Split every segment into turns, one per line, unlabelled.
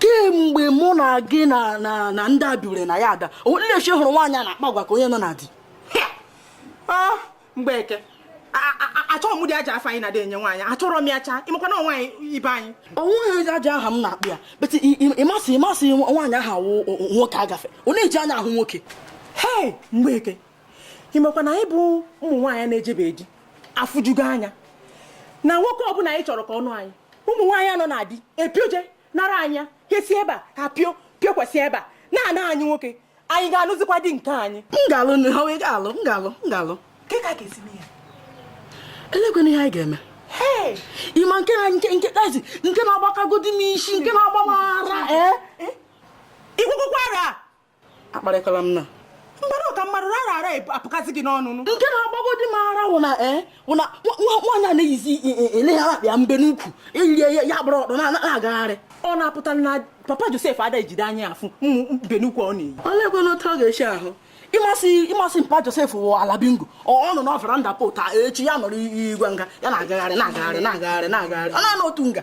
kemgbe mụ na gị na na na ndị a biri na yard a onwe nlechi hụrụ nwaanyị a na-akpa agwa ka onye nọ na di Ah, Mgbeke A- a- a- achọghị m ụdị ajọ afa anyị na-adị enye nwaanyị a achọrọ m ya chaa ị makwa na ọ nwaanyị ibe anyị onweghị ajọ aha m na-akpọ ya but ị ma sị ị ma sị nwaanyị ahụ hụ nwoke agafe ọ na-eji anya ahụ nwoke hei Mgbeke ị makwa na anyị bụ ụmụ nwaanyị na-ejebe di afụjugo anya na nwoke ọbụla anyị chọrọ ka ọ nụ anyị ụmụ nwaanyị nọ na di epioje nara anyị ha esi ebe a ha pio piokwa si ebe a na-ana anyị nwoke anyị ga-alụzikwa di nke anyị ngalụ na ha wee ga-alụ ngalụ ngalụ nke ka ga-esi mee ya elekwanụ ihe anyị ga-eme Hey! ị ma nke na nke nke dazi nke na-agbakagodi m isi nke na-agba m ara ee ịgwụgwụkwara akparịkwala m na mmadụ ka mmadụ rara ara apụkasị gị n'ọnụ nke na-agbagodi m ara wụ na eh, nwaanyị a na-eyizi eh, eh, elee ihe a na-akpọ ya mbe n'ukwu eyirie ya gbara ọtọ na-agagharị ọ na-apụta na papa Joseph ada ejide anya afụ mbe n'ukwu ọ na-eyi olekwanụ otu ọ ga-esi ahụ ị ma sị ị ma sị mpa Joseph wụ ala bingo ọ nọ na veranda pụta echi ya nọrọ igwe nga ya na-agagharị na-agagharị na-agagharị na-agagharị ọ na-anọ otu nga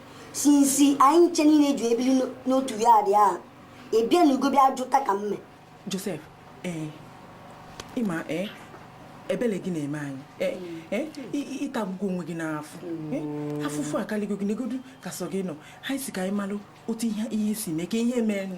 since anyị ncha niile ji ebili n'otu yard a ị bịanugo bịa jụta ka m mee Joseph ee ị ma ee ebele gị na-eme anyị ee ee ị tagbugo onwe gị n'afụfụ ee afụfụ akaligo gị negodu ka sọ gị nọ anyị si ka anyị malụ otu ihe ihe si mee kee ihe meenụ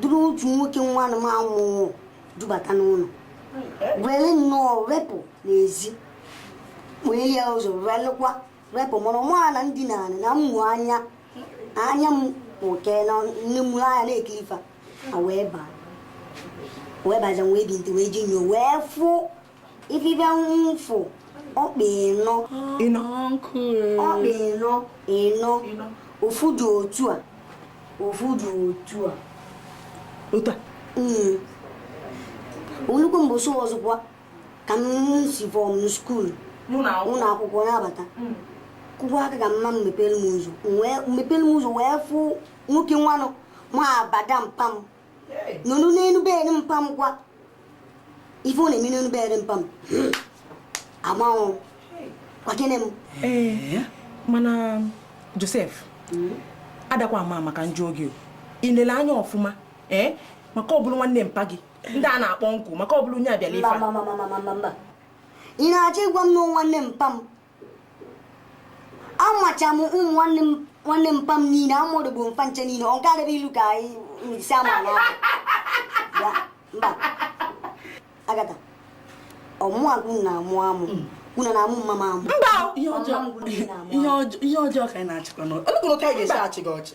duru otu nwoke nwanụ m amanwụrọ dubata n'ụlọ were nnọọ repụ n'ezi kpụnye ya ụzọ welụkwa repụ mana ọ mụwa na ndị na anyị na-amụ anya anya m oke na nne m anya na-ekiri fa a wee baa wee ba azụ wee bi ntị wee je nyo wee fụ Ị fụ ife mụ fụ ọkpa ịnọ. Ịnọ. Ọkpa ịnọ ịnọ. Ofu dị otu a. Ofu dị otu a. Otu a. Hmm. O lukwa mbọsị ọzọkwa ka m si from school ụlọ akwụkwọ na-abata. Hmm. Kụkwa aka ka mma m mepere m ụzọ. Mepere m ụzọ wee fụ nwoke nwanụ ma abada mpa m. nọlụ n'enu bed mpa m gwa m ife ọ na-eme n'enu bed mpa m amanwụ kwakene m ee mana Joseph hmm? adakwa ama ama ka m jụọ gị ị lele anya ọfụma ee maka ọ bụrụ nwanne mpa gị ndị a na-akpọ uncle maka ọ bụrụ onye ọbịa ife ị na-achọ ịgwa m na ọ nwanne mpa m amacha m ụmụ nwanne m nwanne mpa m niile amarugbo m fa ncha niile ọ gadịrị ilu ka anyị isi ama na ya mba agata ọ mụ ka unu na-amụ amụ unu na-amụ mma m amụ mba ihe ọjọọ ihe ọjọọ ka anyị na-achịkọ n'ụlọ ka anyị ga-esi achị gị ọchị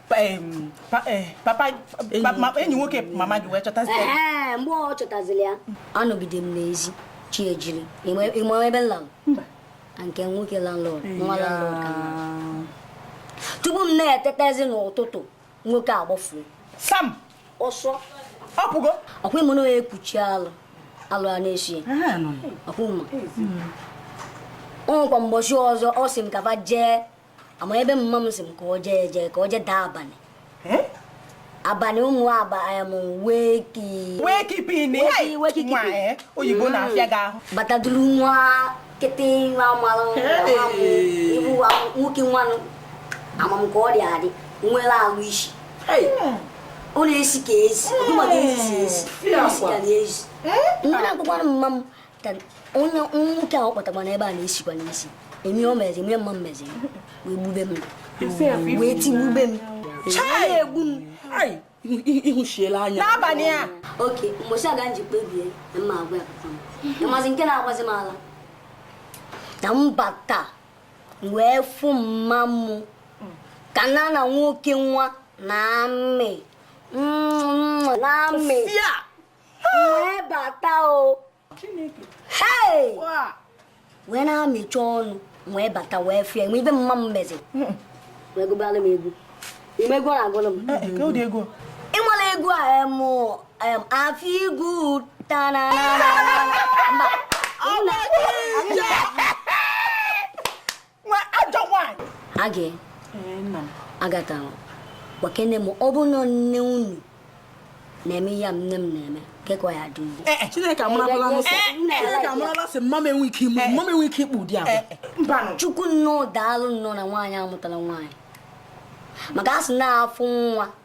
papa enyi nwoke mama gị wee chọtazi mgbe ọ chọtaziri ya anọgide m n'ezi chi ejiri ịma ebe nla nke nwoke landlord nwa landlord ka tupu m na-etetezi n'ụtụtụ nwoke agbafuru sam ọsọ ọ pụgo ọ kwa ị ma na onye kpuchie alụ alụ a na-esie ọkwa ụma o nwekwa mbọchị ọzọ ọ sị m ka fa jee ama ebe mma m sị m ka o jee eje ka o jee daa abalị abalị ụmụ agba m weki oyibo na-afịa gị ahụ bata duru nwa kịtị nwa mara ibu nwoke nwanụ ama m ka ọ dị adị nwere ahụ isi ọ na-esi ka esi ọdụmadụ esi esi esi ka na-esi nwa na-akpụkwara mma m onye nwoke ahụ kpọtakwa n'ebe a na-esikwa n'isi eme o mezi eme mma m mezi wee gbube m wee tigbube m egbu m ịhụchiela anya n'abalị a o kee mbọchị aga m ji kpebie na m ma-agwa ya papa m ị mazi nke na-agbazi m ala na m bata wee fụ mma m ka nya na nwoke nwa na-amị mm, mm, na-amị wee bata o wee na-amịcha ọnụ wee bata wee fie nwe ibe mma m mezi hmm. wee gụbara m egwu ị ma egwu na-agụrụ m eh, eh, ị mara egwu a emụ afọ igwu tana mba nwa ajọ nwaanyị agị agata gbakene m ọ bụ na nne unu na-eme ihe a nne m na-eme kekọ ya dị ugbu eh, eh. chineke amarabụla nsọ eh, chineke amarabụla sị mma m enwe ike igbu mma m enwe ike ikpa ụdị agwa chukwu nnọọ daalụ nnọọ na nwaanyị amụtara nwaanyị maka a sị na-afụ nwa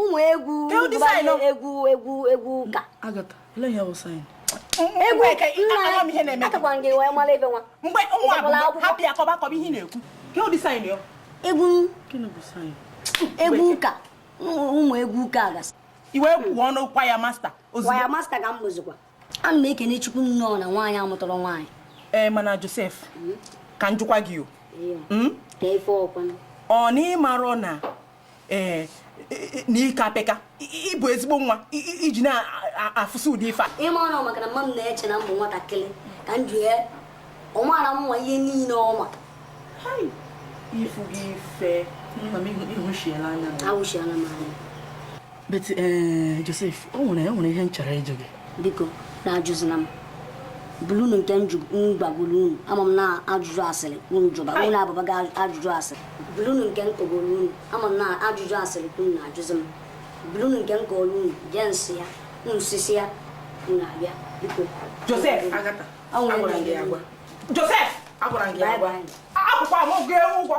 ụmụ egwu egwu egwu egwu ụka egwu nna atakwa gị wee mara ebe nwa mgbe nwa bụ hapụ ya kọba kọba ihe na-ekwu kee ụdị saịn ya egwu egwu ụka ụmụ egwu ụka gasị iwe kwuo ọnụ kwa ya masta ozugbo ya masta ka m bụzikwa ana m ekene chukwu nnọọ na nwaanyị amụtarọ nwaanyị ee mana joseph hmm? ka m jụkwa gị o hmm? ọ na ị marọ na ee na ike apịka ị bụ ezigbo nwa i ji na-afụsị ụdị ife a ị ma ọ bụ maka na mma m na-eche na m bụ nwatakịrị ka m jue ọ ma na m ma ihe niile ọma ifu gị ife awụchiela m anya but eh, Joseph o nwere e nwere ihe m chọrọ ịjụ gị biko na-ajụzina m bulunu nke m gwagolu unu ama m na ajụjụ asịlị unu jụba unu ajụba gị ajụjụ asịlị bulunu nke m kọgolu unu ama m na ajụjụ asịlị unu na-ajụzi m bulunu nke m kọọlụ unu jee sie ya unu sisie ya unu abịa biko Joseph agata agwara m gị agwa Joseph agwara m gị agwa akwụkwọ amụgụ ụgwọ